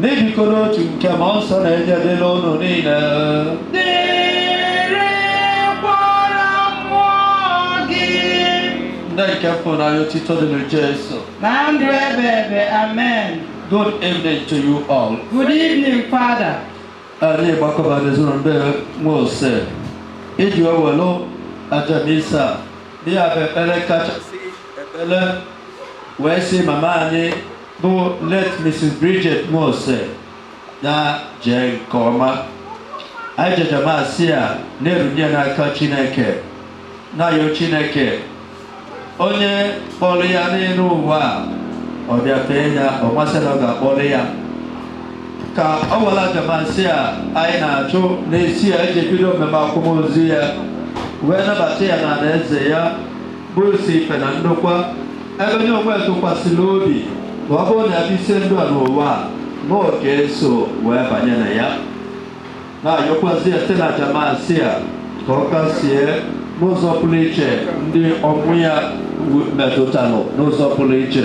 N'ibikọ n'otu nke mmụọ nsọ na-enye dịlị unu niile. Dịrịkwara mmụọ gị. Ndị nke fụnanya otito dịrị Jesu. Na ndụ ebebe, amen. Good evening to you all. Good evening, Father. Anyị gbakọba n'ezinụlọ be Nwose iji welu aja Misa dị ya bụ ekpere kachasị ekpere wee sị mama anyị bụ late Mrs. Bridget Nwose na jee nke ọma anyị ji aja Misa a na-erunye ya n'aka Chineke na-ayọ Chineke onye kpọrọ ya n'elu ụwa a ọ bịa fee ya ọ masị ya ọ ga-akpọrọ ya ka ọ were aja Misa a anyị na-achụ n'isi ya eji bido mmemme akwamozu ya wee nabata ya n'alaeze ya bụ isi ife na ndokwa Ebe nya onwe ya tụkwasịrị obi na ọ bụrụ na ya bisie ndụ a n'ụwa a na ọ ga-eso wee banye na ya na-ayọkwazi ya site n'aja Misa a ka ọ kasie n'ụzọ pụrụ iche ndị ọnwụ ya metụtara n'ụzọ pụrụ iche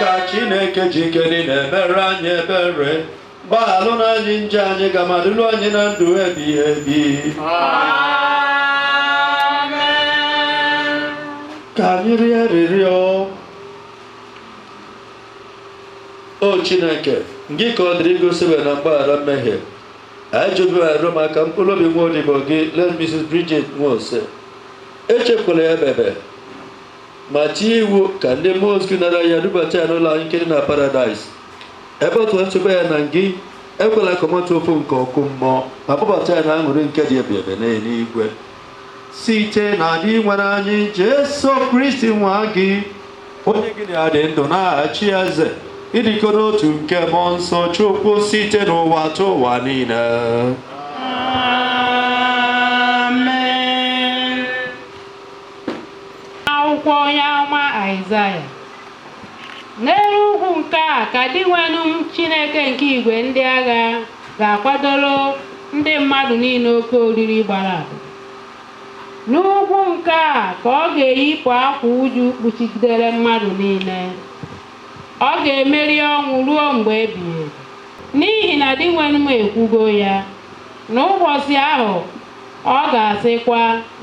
ka chineke ji ike niile meere anyị ebere gbaghalụ anyị njọ anyị ga ma dulu anyị na ndụ ebighị ebi ka anyị rịọ arịrịọ o chineke gị ka ọ dịrị igosi ebere na mgbaghara mmehie anyị ji obi arịọ maka mkpụrụ obi nwa odibo gị late mrs bridget nwose echekwala ya ebebe ma tie iwu ka ndị mmụọ ozi nara ya dubata ya n'ụlọ anyị nke dị na paradaịs ebe ọ tụkwasị obi ya na ngị ekwela ka ọ mata ụfụ nke ọkụ mmụọ ma kpọbata ya n'aṅụrị nke dị ebebe n'eluigwe site na dinwenụ anyị Jesu Kristi nwa gị onye gị na ya dị ndụ na-achị eze n'ịdịkọ n'otu nke mmụọ nsọ chukwu site n'ụwatụwa niile akwụkwọ onye amụma aịzaya n'elu ugwu nke a ka dinwenụ m chineke nke igwe ndị agha ga-akwadoro ndị mmadụ niile oke oriri gbara abụ N'ugwu nke a ka ọ ga-eyipụ akwa uju kpuchigidere mmadụ niile. Ọ ga-emeri ọnwụ ruo mgbe ebighị ebi. N'ihi na Dinwenụ m ekwugo ya. N'ụbọchị ahụ, ọ ga-asịkwa,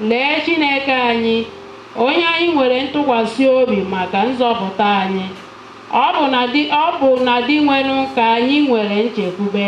Lee Chineke anyị, onye anyị nwere ntụkwasị obi maka nzọpụta anyị. Ọ bụ na Dinwenụ ka anyị nwere nchekwube.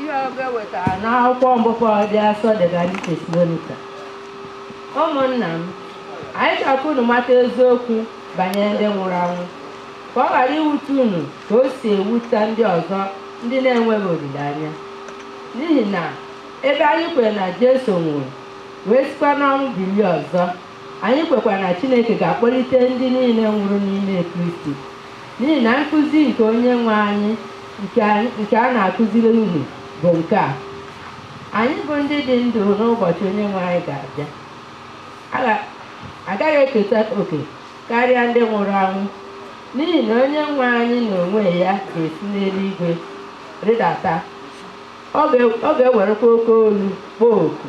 ihe ọgụgụ e wetara n'akwụkwọ mbụ Pọl dị asọ degaara ndị tesalonika ụmụnna m anyị chọrọ ka unu mata eziokwu banyere ndị nwụrụ anwụ ka ọ ghara iwute unu ka o si ewute ndị ọzọ ndị na-enweghị olileanya n'ihi na ebe anyị kwere na Jesu nwụrụ wee sikwa n'ọnwụ bilie ọzọ Anyị kwekwara na Chineke ga-akpọlite ndị niile nwụrụ n'ime Kristi, n'ihi na nkụzi nke onye nwe anyị nke a na-akụziri unu bụ nke a, anyị bụ ndị dị ndụ n'ụbọchị onye nwe anyị ga-abịa agaghị eketa oke karịa ndị nwụrụ anwụ, n'ihi na onye nwe anyị n'onwe ya ga-esi n'eluigwe rịdata, ọ ga-ewerekwa oke olu kpọọ oku.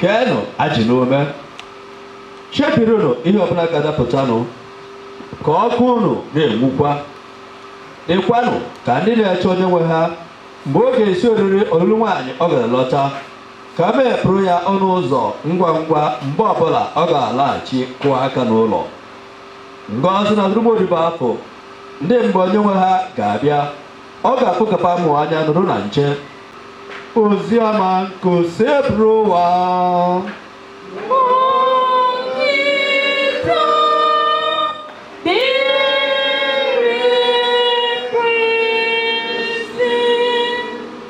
keenụ ajị n'ume chebirinụ ihe ọbụla ga-adapụtanụ ka ọkụ unu na-enwukwa dịkwanụ ka ndị na-eche onye nwe ha mgbe ọ ga-esi oriri ọlụlụ nwaanyị ọ gara lọta ka ha mepụrụ ya ọnụ ụzọ ngwa ngwa mgbe ọbụla ọ ga-alaghachi kụọ aka n'ụlọ ngọzi na-adịrị ụmụ odibo afụ ndị mgbe onye nwe ha ga-abịa ọ ga-afụ ka fa mụ anya nọrọ na nche ozi ọma nke osebụrụwa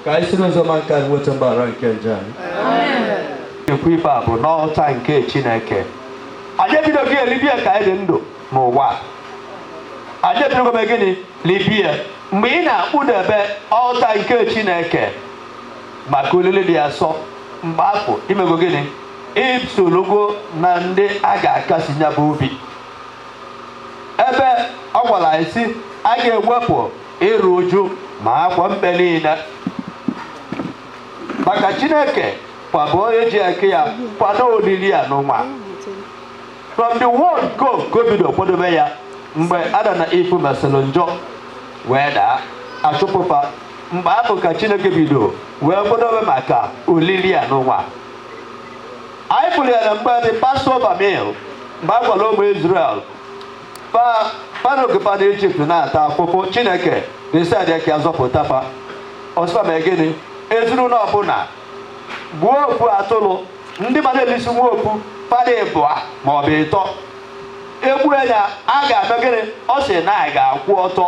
ka anyị si n'ozi ọma nke a nweta mgbaghara nke njọ anyị ekwu ife a bụ n'ọlta nke chineke anyị ebidoghị eribe ya ka anyị dị ndụ n'ụwa anyị ebidogo mee gịnị libe ya mgbe ị na-akpudebe ọlta nke chineke maka olili dị asọ mgbe afụ i mego gịnị i sorogo na ndị a ga-akasi nya bụ obi ebe ọ gwara anyị sị a ga-ewepụ iru uju ma akwa mkpe niile maka chineke ka bụ onye ji aka ya kwado olili a n'ụwa from the word go ka o bido kwadobe ya mgbe Adam na Eve mesịrị njọ wee daa a chụpụ fa mgbe ahụ ka chineke bido wee kwadobe maka olili a n'ụwa anyị fụrụ ya na mgbe the Passover meal mgbe a gwara ụmụ israel fa n'oge fa nọ ijipt na-ata afụfụ chineke decide ka a zọpụta fa ọ sị fa mee gịnị ezinụlọ ọbụla gbuo ofu atụrụ ndị ma na-elisi nwa okwu fa dị ịbụa ma ọ bụ ịtọ e gbuo ya a ga-eme gịnị ọ sị na a ga-akwụ ọtọ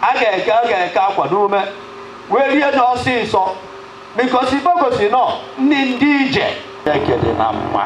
a ga-eke a ga-eke akwa n'ume wee rie nya ọsịsọ because bogosi nọ ndị ndị ije ekede na mma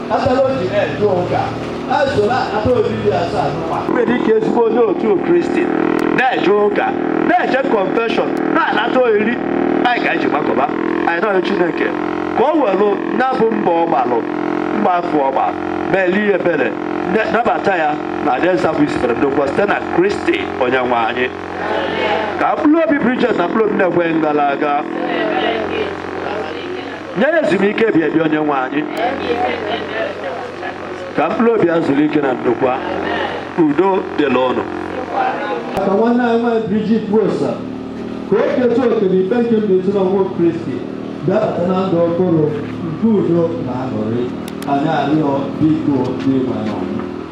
Atala oji na-eje ụka na-eso na-anata oriri nsọ n'ụwa. nwere ike ezigbo onye otu kristi na-eje ụka na-eje kọnfeshọn na-anata oriri anyị ka anyị ji gbakọba anyị na-ayọ chineke ka o welụ ya bụ mbọ ọ gbalụ mbọ afụ ọ gba meelụ ya ebere ne- nabata ya n'alaeze bụ isibere ndokwa site na kristi onye nwe anyị ka mkpụrụ obi bridget na mkpụrụ obi ndị kwerenụ gara aga nye ya ezumike ebi ebi onye nwe anyị ka mkpụrụ obi ya zuru ike na ndokwa udo dịlị ụnụ maka nwanne anyị nwaanyị Bridget Nwosa ka o keta oke n'ife nke mbilite n'ọnwụ Kristi bịabata na ndụ ọhụrụ nke udo na aṅụrị anyị arịọ biko Dinwenụ anyị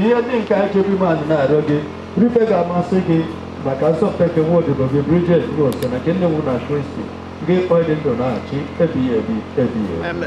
ihe ndị nke anyị chebe ime anyị na-arịọ gị bụrụ ife ga-amasị gị maka nzọpụta nke nwa odibo gị Bridget Nwosa na nke nne nwụ na Kristi gị kpọọ dị ndụ na-achị ebighị ebi ebighị ebi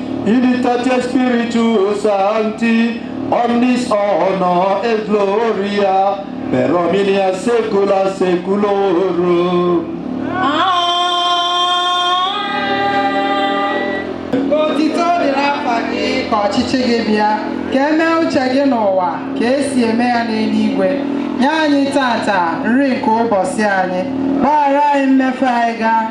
In unitate Spiritus Sancti, omnis honor et gloria, per omnia secula seculorum. Otito dịrị afa gị ka ọchịchị gị bịa ka e mee uche gị n'ụwa ka esi eme ya n'eluigwe nye anyị tata nri nke ụbọsị anyị gbaghara anyị mmefie anyị ka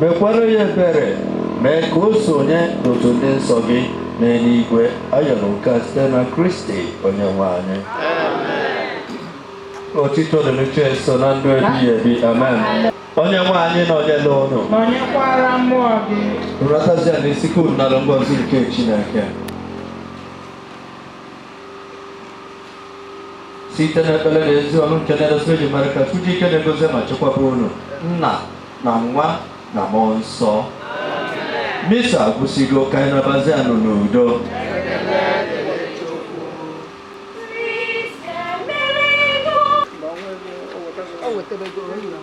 mekwara ya ebere mee ka o sonye n'otu ndị nsọ gị n'eluigwe ayọrọ nke a site na kristi onye nwe anyị otito dịrị Jeso na ndụ ebighị ebi amen onye nwe anyị nọnyelụ ụnụ nọnyekwara mmụọ gị rudatazienụ isi ka unu nara ngọzi nke chineke site n'ekpere na ezi ọrụ nke Blessed Virgin Mary ka Chukwu ji ike nine gọzie ma chekwaba unu nna na nwa na mmụọ nsọ misa agwụsịgo ka anyị nabazienụ n'udo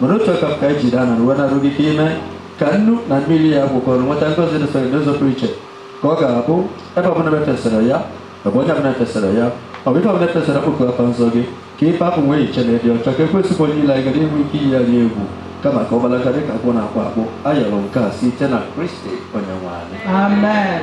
mana otu aka afụ ka ejide ana na uwe na-arịọ gị ka i mee ka nnu na mmiri a gwakọrọ nweta ngọzi dịsịrị n'ụzọ pụrụ iche ka ọ ga-abụ ebe ọbụla e fesara ya ebe onye ọbụla e fesara ya ọ bụ ife ọbụla e fesara kpọkuo afa nsọ gị ka ife afụ nwee iche na ịdị ọcha ka ekwensu bụ onye ilo anyị ghara inwe ike iyi ya egwu kama ka ọ gbalaga dị ka agwọ na-akpụ akpụ ayọrọ nke a site na kristi onye nwe anyị Amen.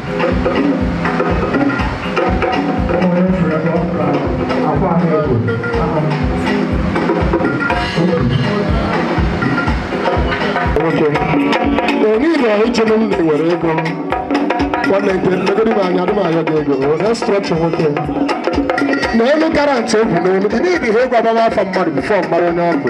onye uchenụ m na-ewere ego nwanne nke megodi m anya adịmanya gị ego restrọchụ nwoke na elu karantị egwu n'elu ị na-ebi ha egwu agbama afọ mmadụ bifọ mmadụ onye ọkụ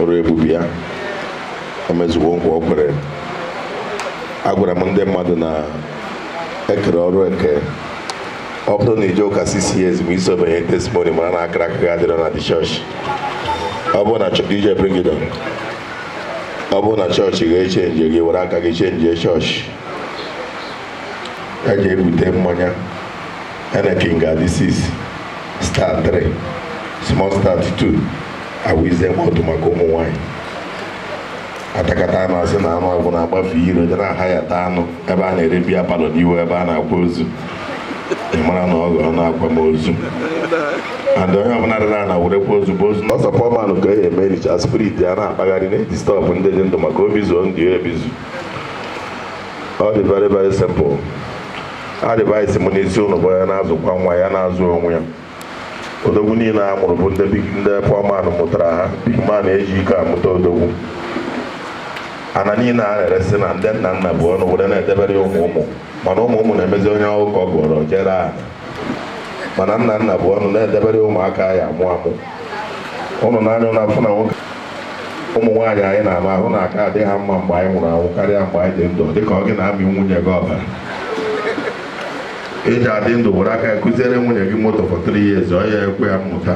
ọrụ ebube ya o mezuwo nkwa o kwere agwara m ndị mmadụ na ekere ọrụ eke ọ bụrụ na ije ụka six years ma i sobe nye testimony mara na akara aka gị adịrọ na dị chọọchị ọ bụrụ na ije bringidon ọ bụrụ na chọọchị ga-echenji gị were aka gị chenjie chọọchị ya ga-ebute mmanya Heineken ga-adị 6 star 3 small stout 2 awize mọdụ maka ụmụ nwanyị atakata anụ asị na anụ agwụ na-agbafe iro je n'ahịa taa anụ ebe a na-ere biya palọ n'ihu ebe a na-akwa ozu ị mara na ọ gọrọ n'akwam ozu and onye ọbụla dara na werekwa ozu bụ ozu ọsọ pọmanụ ka e eme richa spirit ya na-akpagharị na-edistọbụ ndị dị ndụ maka obi zuo ndị ebizu ọ dị very very simple advice m n'isi ụnụ bụ ya na-azụkwa nwa ya na-azụ onwe ya odogwu niile a mụrụ bụ ndị big- ndị poor man mụtara ha big man eji ike amụta odogwu ana niile a na-eresị na ndị nna nna bu ọnụ were na-edebere ụmụ ụmụ mana ụmụ ụmụ na-emezi onye ọkụkọ gụọrọ je ree ana mana nna nna bu ọnụ na-edebere ụmụ a ka ya-amụ amụ ụnụ nee anya ụnụ afụ na ụmụ nwaanyị anyị na-alụ ahụ na-aka adị ha mma mgbe anyị nwụrụ anwụ karịa mgbe anyị dị ndụ dịka ọ gị na-amị nwunye gị ọbara eji adị ndụ were aka kụziere nwunye gị moto for three years ọ ya ekwe ya mmụta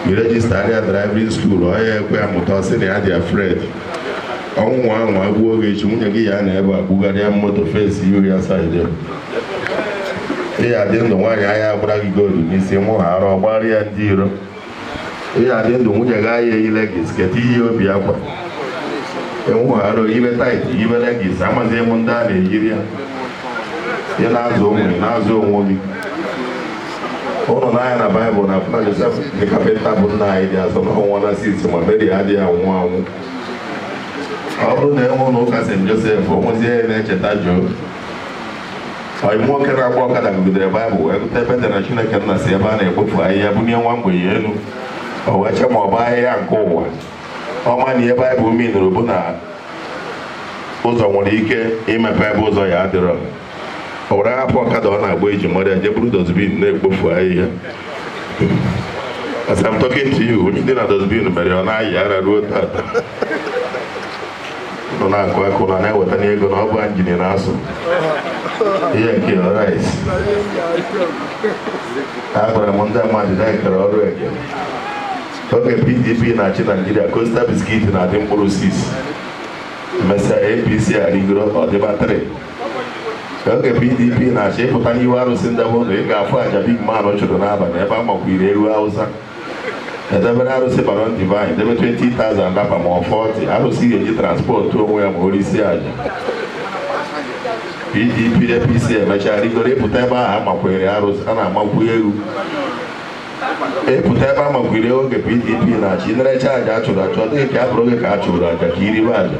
i rejista ya driving school ọ ya ekwe ya mmụta ọ sị na ya dị afraid ọnwụ nwaa anwa gbuo gị echi nwunye gị ya nọ ebe a kpụgharịa moto fesi iri asaa ị ya dị ndụ nwaanyị aya agbara gị goolu n'isi ị nwụhara ọ gbara ya ndị iro ị ya dị ndụ nwunye gị aya eyi leggings keta iyi obi akwa ị nwụhara o yibe tight yibe leggings amaghị m ndị a na-eyiri ya ị na-azụ onwe gị na-azụ onwe gị ụnụ nee anya na baịbụl ụnụ afụ na josef the kapịnta bụ nna jizọs anwụọna since ma meri adịghị anwụ anwụ ọ bụrụ na enwe ụlọ ụka st josef onwezi onye na-echeta joo Ọyị m nwoke na-agba ọkada gụgidere Baịbụl wee gụta ebe e dere Chineke nna si ebe a na-ekpofu ahịhịa bunie nwa mgbenye elu o wee chee ma ọ bụ ahịhịa nke ụwa ọ ma na ihe Baịbụl minụrụ bụ na ụzọ nwere ike imepe ebe ụzọ ya adịrọ o were hapụ ọkada ọ na-agba eji eri ihe je buru dozbin na-ekpofu ahịhịa as I'm talking to you isi dị na dozbin mere ọ na-ayị ara ruo tata nọ na-akụ akụ na na-eweta anyị ego na ọ bụ injin na-asụ ihe nke ọrit agwara m ndị mmadụ na-ekere ọrụ eke oge pdp na-achị naijiria kosta biskit na-adị mkpụrụ sis emesịa apc arịgoro ọdịba 3 oge pdp na-achị ịpụta n'ihu arụsị ndebe ụlọ ị ga-afụ aja big man chụrụ n'abalị ebe a makwiri ewu hausa edebere arụsị baron de val debe 20,000 dapa ma ọ 40 arụsị ga-eji transpọtụ onwe ya ma o risi aja pdp apc emechaa rigoro ịpụta ebe ahụ amakwere arụsị a na-amakwu ewu ịpụta ebe amakwere oge pdp na-achị na-ericha aja a chụrụ achụ ọ dịghị ka a bụrụ oge ka a chụrụ aja ka iribe aja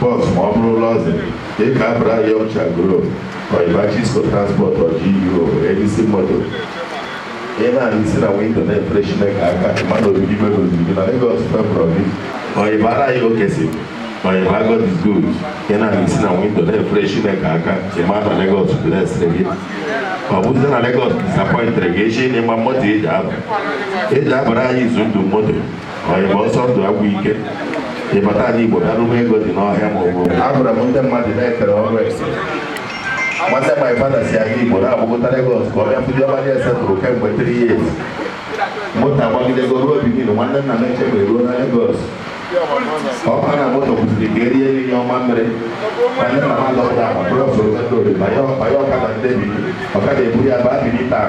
bọs ma ọ bụrụ luxury ka ị ka abara young shall grow ọyịba chisco transport ọjigo edisi moto ị na-ahụ isi na windo na-efere chineke aka mmadụ obibi mebe obibi na Lagos fevọrọ gị ọyịba ara ya okeyson ọyịba God is good ị na-ahụ isi na windo na-efere chineke aka ịma na Lagos blesịrị gị ọ bụzi na Lagos disapọịntịrị gị echi n'ịgba moto eji aba eji abara anyị izu ndụ moto Igbo ọsọ ndụ agwụ ike ịbata anyị Igbo bịara ụgbọ ego dị n'ọhịa ma ọ bụ abụrụ m ndị mmadụ na-ekere ọrụ esi nwanne my father sị anyị Igbo na-agbagota Lagos ka ọ bịa fụdị ọma dị ese tụrụ kemgbe 3 years moto agbagidego ruo Benin nwanne nna m echebe ruo na Lagos ọkwa na moto kwụsịrị ka erie nri nyụọ mamịrị anyị na ha lọpụta akpa bụrụ ọsọrọ ndị oriri banye ọkada ndị bi ọkada eburu ya baa biri taa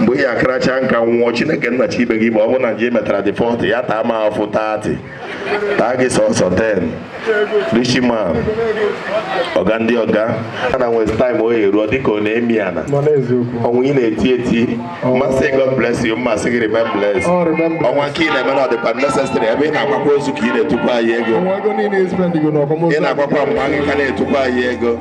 mgbe ị ya akaracha nka nwụọ chineke nna chi ibe gị ma ọ bụ na njọ ị metara dị 40 ya taa ma afụ 30 taa gị sọsọ 10 rishi ma ọga ndị ọga a na nwezi taịm o eruo dịka ọ na-emi ana ọnwa ị na-eti eti mazị God bless you mazị gị remain blessed ọnwa nke ị na-eme na ọ dịkwa necessary ebe ị na-akwakwa ozu ka ị na-etukwa anyị ego ị na-akwakwa mgbe anyị ka na-etukwa anyị ego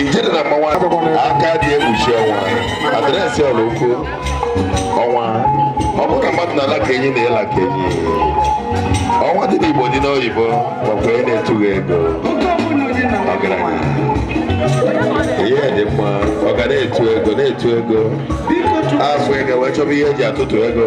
ijele na mmanwụ aka adị ekpuchi ọnwa adreesị ọlụkwu ọnwa ọ bụrụ na mmadụ na-ala ka enyi na ị la ka enyi ọnwa dị n'igbo dị n'oyibo makwa onye na-etughị ego ọgaranya ihe dị mma ọ ga na-etu ego na-etu ego afụ ị ga-ewee chọba ihe eji atụtụ ego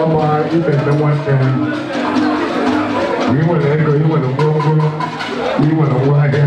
ọma ibe ndị nwanne ị nwere ego ị nwere ngwongwo ị nwere ngwa ahịa